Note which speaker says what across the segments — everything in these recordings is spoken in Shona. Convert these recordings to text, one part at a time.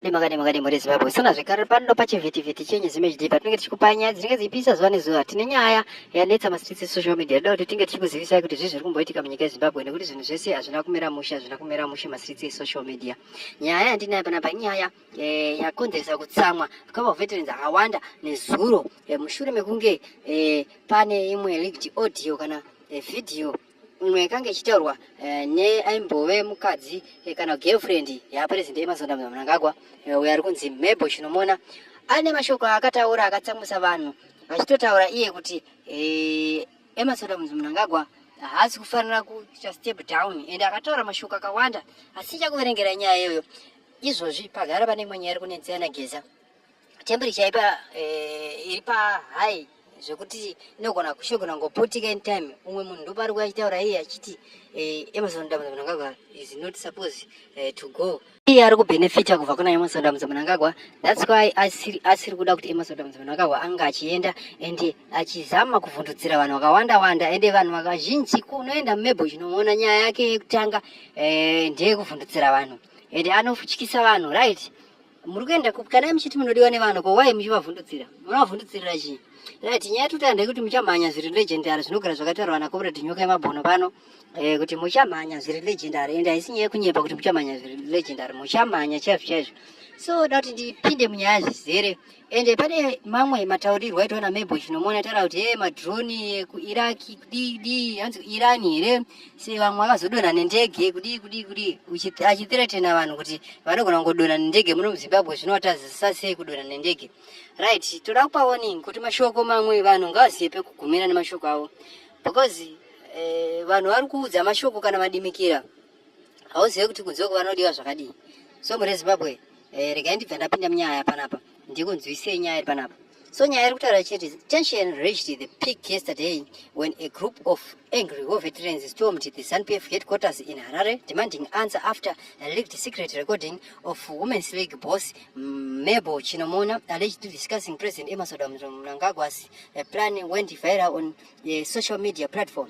Speaker 1: Demakade makade muri Zimbabwe sona zvekare pano pachivhitivhiti chenyu zimhd patinenge tichikupai nyaya dzinenge dziipisa zuva nezuva tine nyaya yanetsa mastreets esocial media yoda kuti tinge tichikuzivisai kuti zvii zviri kumboitika munyika yezimbabwe nekuti zvinhu zvese hazvina kumira mushe hazvina kumira mushe mastreets esocial media nyaya yandinayo panapa inyaya eh, yakonzeresa kutsamwa kwava veterans akawanda nezuro eh, mushure mekunge eh, pane imwe leaked audio kana video imwe yakange ichitaurwa eh, neaimbove mukadzi eh, kana girlfriend yapresident emazonda mnangagwa eh, uyo ari kunzi mabel chinomona ane mashoko aakataura akatsamwisa vanhu vachitotaura iye kuti emasonda mnangagwa haasi kufanira kuita step down and akataura mashoko akawanda asi ichakuverengera nyaya iyoyo izvozvi pagara pane imwe nyaya iri kunetsera nageza temperature ipa eh, iri pa high zvekuti inogona kushogona ngoputika in time umwe munhu ndopari kuya achitaura iye achiti eh, emerson dambuza munangagwa is not suppose eh, to go iye ari kubenefita kubva kuna emerson dambuza munangagwa thats why asiri kuda kuti emerson dambuza munangagwa anga achienda and achizama kuvhundudzira vanhu vakawanda wanda ende vanhu vakazhinji kunoenda mumebho chinoona nyaya yake yekutanga eh, ndeyekuvhundudzira vanhu ende anofutyisa vanhu right muri kuenda kupi kana muchiti munodiwa nevanhu ko wai muchivavhundutsira munovavhundutsirira chii right nyaya yatoti handei kuti muchamhanya zviri legendary zvinogara zvakataurwa nakomredi nyoka yemabhono pano eh, kuti muchamhanya zviri legendary ende haisi nyaya yekunyepa kuti muchamhanya zviri legendary muchamhanya chaizvo chaizvo so da kuti ndipinde munyaya zvizere ende pane mamwe mataurirwo aitwa namebo chinomuona taura kuti e eh, madroni ekuiraki kudii dii hanzi kuirani here si vamwe vakazodonha nendege kudii kudii kudii achithiretena vanhu kuti vanogona kungodonha nendege muno muzimbabwe zvinowatazisa sei kudonha nendege right toda kupa warning kuti mashoko mamwe vanhu ngavazive pekugumira nemashoko avo because eh, vanhu vari kuudza mashoko kana madimikira hauzive kuti kunze uko vanodiwa zvakadii so murezimbabwe eh, regai ndibva ndapinda munyaya panapa ndikunzwisei nyaya iri panapa so nyaya iri kutaura chete tension reached the peak yesterday when a group of angry war veterans stormed the zanupf headquarters in harare demanding answer after a leaked secret recording of women's league boss mebo chinomona allegedly discussing president emerson mnangagwa's plan went viral on a social media platform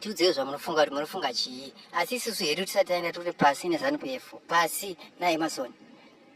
Speaker 1: tiudzei zvamunofunga kuti munofunga chii asi isusu hedu tisati taenda turi pasi nezanupf pasi naemason